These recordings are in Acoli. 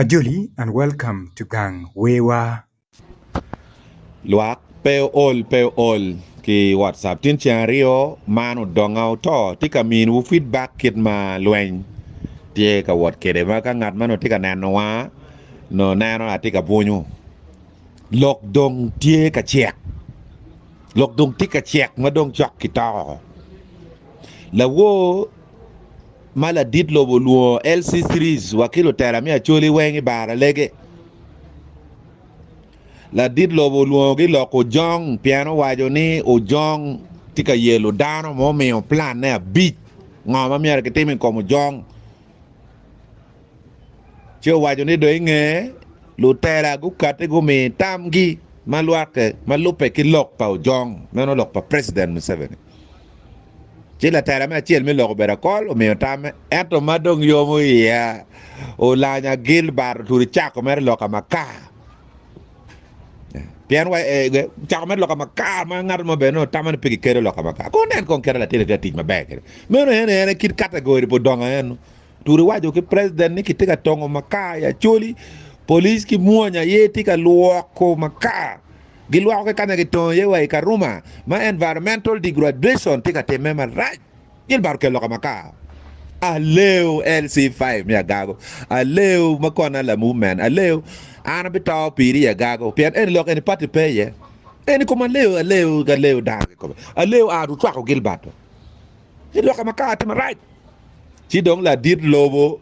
Ajoli and welcome to gang wer wa. Lwak pe ool pe ool ki WhatsApp tin ceng aryo man odonga oto tye ka miniwu feedback kit ma lweny tye ka wot kwede ma ka ngat ma nongo tye ka nenowa nongo neno atye ka bwunyu lok dong tye ka cek lok dong tye ka cek ma dong cok ki toko lawor Ma ladit lobo olwongo LC Series wa ki lutela me Acholi weng i bar alege. Ladit lobo olwongogi lok Ojong pien owaco ni Ojong tye ka yelo dano ma omiyo planne abic ngo ma myero kitim i kom Ojong. Ci owaco ni dong i nge lutela gukati gumi tamgi ma lwake ma lubbe ki lok pa Ojong, meno lok pa President Museveni. Ci latela me acel me lok obedo akol omiyo tamme, ento ma dong yomo iya olanya Gilbert Oturi cako mere lok amaka. Pien wa eh, eh, cako mere lok amaka ma ngat mo bene otamo ni pe kikedo lok amaka. Kong nen kong kite latin ite tic maber kede. Meno en en kit kategori pa odongo eno. Turi waco ki president ni kitye ka tongo makar i Acholi, police ki mwony aye tye ka lwoko makar. Gilwoko ki kanya kitongo iye wa i Karuma ma environmental degradation tye ka timme marac. Gilbert okelo ka makar. Aleo LC5 me agago. Aleo ma kona lamu men. Aleo an abito piri i agago pien eni lok eni party pe iye. Eni kom aleo aleo aleo dano kikobe. Aleo an otwako Gilbert. Ci lok ma kare tye marac, ci dong ladit lobo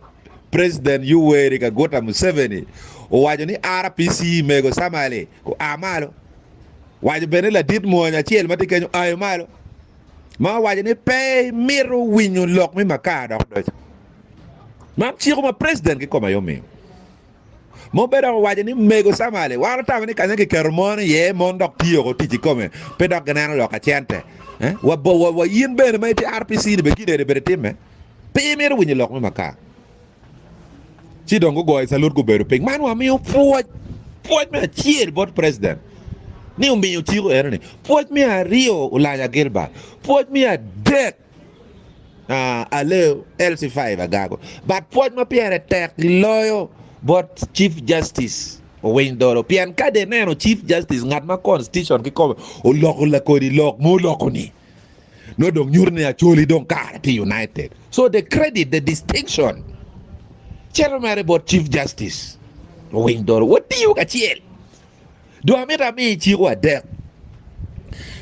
President Yoweri Kaguta Museveni owaco ni RPC mego Samali oa malo. Waco bene ni ladit mwony acel ma tye kenyo ayo malo ma owaco ni pe mito winyo lok me Makar dok doco. Man ciko ma President kikome aye omiyo. Mobbe dok owaco ni, Mego Samali, wan otamo ni kanya ma kiketo mon iye, mon dok tiyo woko tic kikome, pe dok gineno lok ka cente. Wa in bene ma itye RPC-ni bene kit eni bene itimme? Pe imito winyo lok me makar? Ci dong gugoyo calut gubedo piny. Man wamiyo pwoc, pwoc me acel bot president ni omiyo cik eno-ni, pwoc me aryo Olanya Gilbert, pwoc me adek Aleo LC five agago bat pwoc ma pyere tek gi loyo bot Chief Justice Owiny Dolo pien kadi ineno Chief Justice ngat ma Constitution ki kome oloko lakodi lok ma oloko ni nongo dong nyuto ni Acholi dong kare tye united so the credit the distinction cito mere bot Chief Justice Owiny Dolo watiyo kacel. Dong amito ami iciko adek.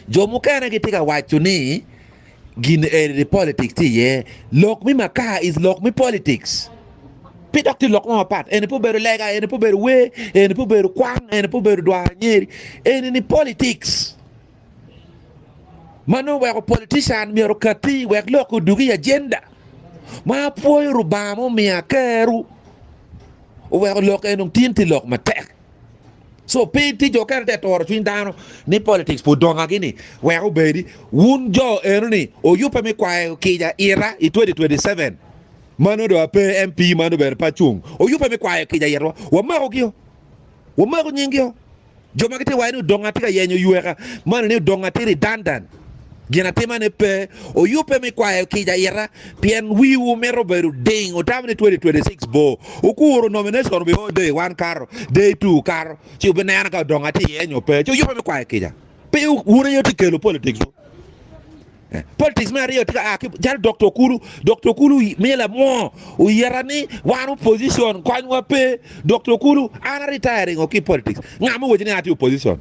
Jo mukene gitye ka waco ni gin eni ni politics tye iye. Lok mi makar is lok mi politics. Pe dok tye lok mo mapat. Eni pe obedo lega, eni pe obedo wer, eni pe obedo kwang, eni pe obedo dwaro nyeri. Eni ni politics. Ma nongo weko politician myero okatti wek lok odug i agenda. Ma apwoyo Rubanga ma omiya keru. Oweko lok eni onong tin tye lok matek. So pe tye jo kene te toro cwiny dano ni politics pud dongagi ni wek obedi wun jo eno ni oyubbe me kwayo kica ita i 2027 mano do ape MP mano bene pe acung oyubbe me kwayo kica itwa wamako gio wamako nying gio jo ma gitye waye ni odongo atye ka yenyo yweka mano ni odongo atye redundant Ginatimane pe oyubbe me kwayo kica ita, pien wiwu mito bedo ding. Otamo ni 2026 bor. Wukuru nomination obi o day one kato, day two kato, ci wubineno ka odong atye iye nyo pe. Ci oyubbe me kwayo kica. Pe wun aye wutye kelo politics du. Eh, Politics me aryo tye ka a ki calo Dokta Okulu. Dokta Okulu miyo lamwoo oyeta ni wan opposition konywa pe. Dokta Okulu, an a retiring o ki politics. Nga ma owaci ni an atye opposition?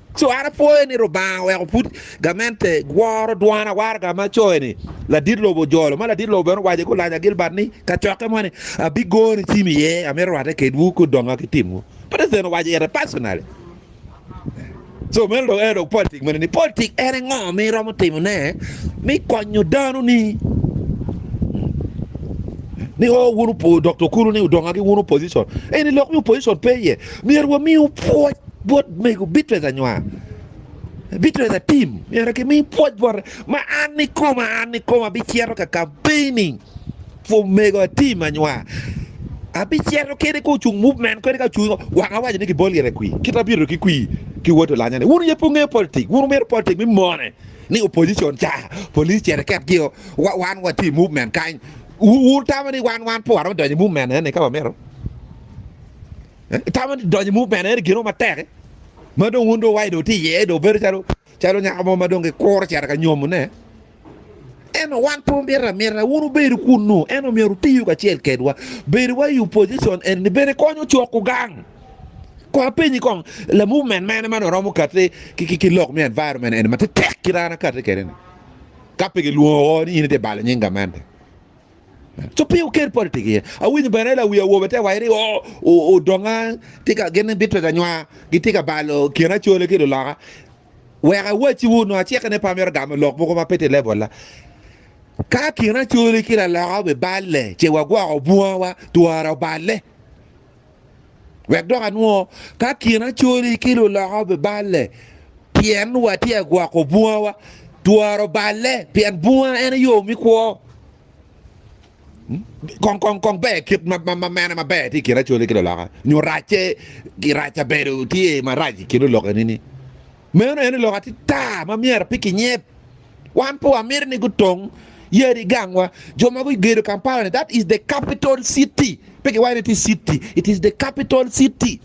Cwara pwoyo ni Rubanga oweko pud gamente woro dwon awaraga ma coyo ni, Ladit lobo ojolo, ma ladit lobo bene owaco ki olaja Gilbert ni, Kacokke mo ni, Abigoni cim iye, amito rwatte kedwu ki odonga ki timwu. President owaco ite personally. So meno dong ene dong politik mene ni politik ene ngo mi iromo timo ne mi konyo dano ni ni o wun opo Doktor Kulu ni odonga ki wun opposition eni lok mi opposition pe iye myero wamiu pwoc Bot mego bitwero anywa, bitwero atim, myero kimi pwoc bote ma an ikoma, an ikoma abicito ka kampein ni for mego atim anywa, abicito kede ka ocung muvmen kadi ka ocung wang awaco ni kibol gire kwi, kit ma bito ki kwi ki woti olanya ni wun aye pe wungeyo politik, wun wumito politik me mone ni opposition ca police cito iket gi o wan watye i muvmen kany, wun wutamo ni wan wan pe waromo donyo i muvmen eni ka wamito. Itamo ni donyo i mur bene en gino matek ma dong wun dong wai dong tye iye dong bedo calo calo nyako mo ma dong gikuro cito ka nyomone. Ento wan pe wamito amita wun wubedo kunnu, ento myero wutiyu kacel kedwa. Bedo wa i opposition eni bene konyo coko gang. Kong apenyi kong, la movement mene ma dong romo kati ki ki ki lok me environment eni ma tetek kit an akati kwede ni? Ka pe gilwongo woko ni in itye balo nying gamente. Co pi oker pol tiki ye. Awinyo bene lawi awobe te waci ni o, o, odonga tye ka gin ni bitwega nywa, gitye ka balo kin acole ki luloka. Wek awacciwu, onongo acikke ni pe amito gamo lok mogo ma pe tye i lebolna. Ka kin acole ki laloka obiballe, ce wagwoko bungawa, twara oballe. Wek dok anwo ka kinaconi ki luloka obiballe pien watye ka gwoko bungawa, twero balle pien bunga en aye yo me kwo. Kong ber kit ma mene maber tye i kinaconi ki luloka nyo racce, rac kabedo tye marac i kin luloka nini? Meno en lok atita ma myero pe kinyep. Wan pe wamito ni gutong yadi gangwa. Jo ma gugedo Kampala ni that is the capital city. Pe kiwayo ni ti city, it is the capital city.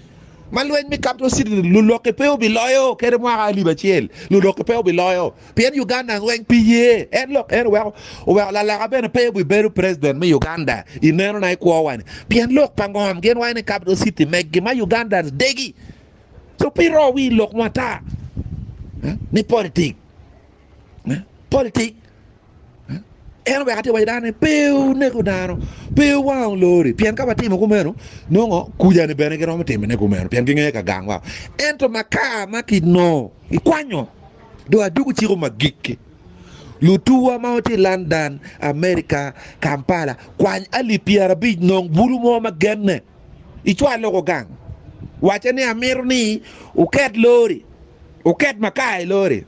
Ma lweny me capital city lulokke pe obiloyo kede mwaka alip acel. Lulokke pe obiloyo. Pien Uganda weng pi ye. En lok en oweko oweko laloka bene pe obibedo president me Uganda. I neno na i kwowa ni. Pien lok pa ngom gin wayo ni capital city meggi ma Ugandans degi. So pi ro wi lok mo ata ni politik politik en oweko atye waco dano ni pe oneko dano pe owango lori pien ka watimo kumeno nongo kujani bene giromo timone kumeno pien gingeyo ka gang wao ento makar ma kinongo ikwanyo do adugu ciko magikki lutuwa ma watye London America Kampala kwany alip pyerabic nong bulu mo ma genne icwal loko gang, wacce ni amito ni wuket lori, wuket makar i lori,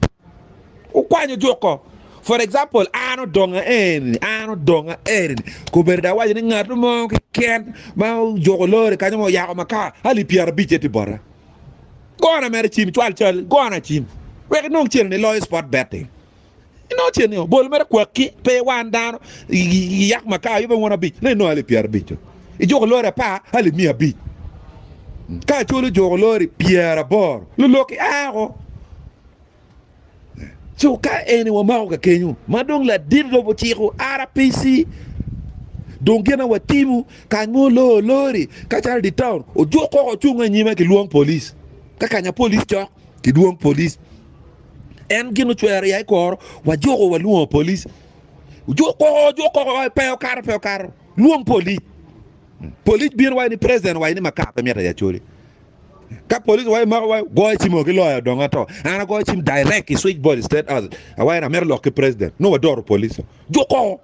wukwany ojuko. For example, an odonga eni, an odonga eni, kobedo dok awaco ni ngat mo keken ma ojuko lori kanya ma oyako makar alip pyerabic aye tye bota. Gona mere cim, cwal cal, gona cim wek inong cente ni iloyo spot betting. Inongo ce ni obol mere kwaki pe wan dano yak ma ka yube won abic ne inongo ali pyera abic jo. Ijuko lori apa ali miya abic. Ka colo juko lori pyera aboro lulok i ako. So ka eni wamako ka kenyo ma dong ladit lobo ciko RPC dong gina watimo kany mo loo lori ka calo di town ojuk koko ocungo inyime ki lwong police ka kanya police cok ki dwong police. en gin ocwero ya ikoro wajuko walwongo police juk koko juk koko wa pe okato pe okato lwong police police bino wai ni president wai ni makar pe mita ya choli ka police wai mako wai goyo cim oki loyo dongo ato ana goyo cim direct i switch board state house awai na mero lok ki president no wadoro police juk koko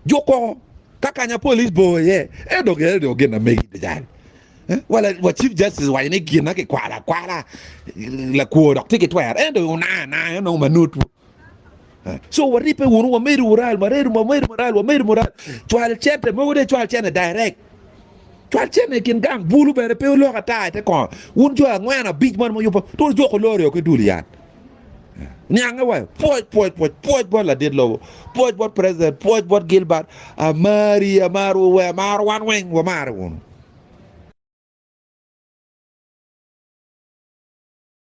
Juk kong ka kanya police bor iye, ento gire dong gin na megi pe jal. Eh, Wala wa Chief Justice waco ni gin na kikwalo akwala lakwo dok tye ki twero, ento una ana en onongo manutwu. Eh, So waribbe wunu, wamedo mural, waredo wamedo mural, wamedo mural. Cwal cente mogo de cwal cente direct. Cwal cente i kin gang bulu bene pe olok ata ite kono. Wun jo angwen abic man muyubbo, tur juko lori o ki dul yan. Niange wa, pwoc, pwoc, pwoc, pwoc bot ladit lobo, pwoc bot president, pwoc bot Gilbert, amari, amar we, amar wan weng, wamare wunu.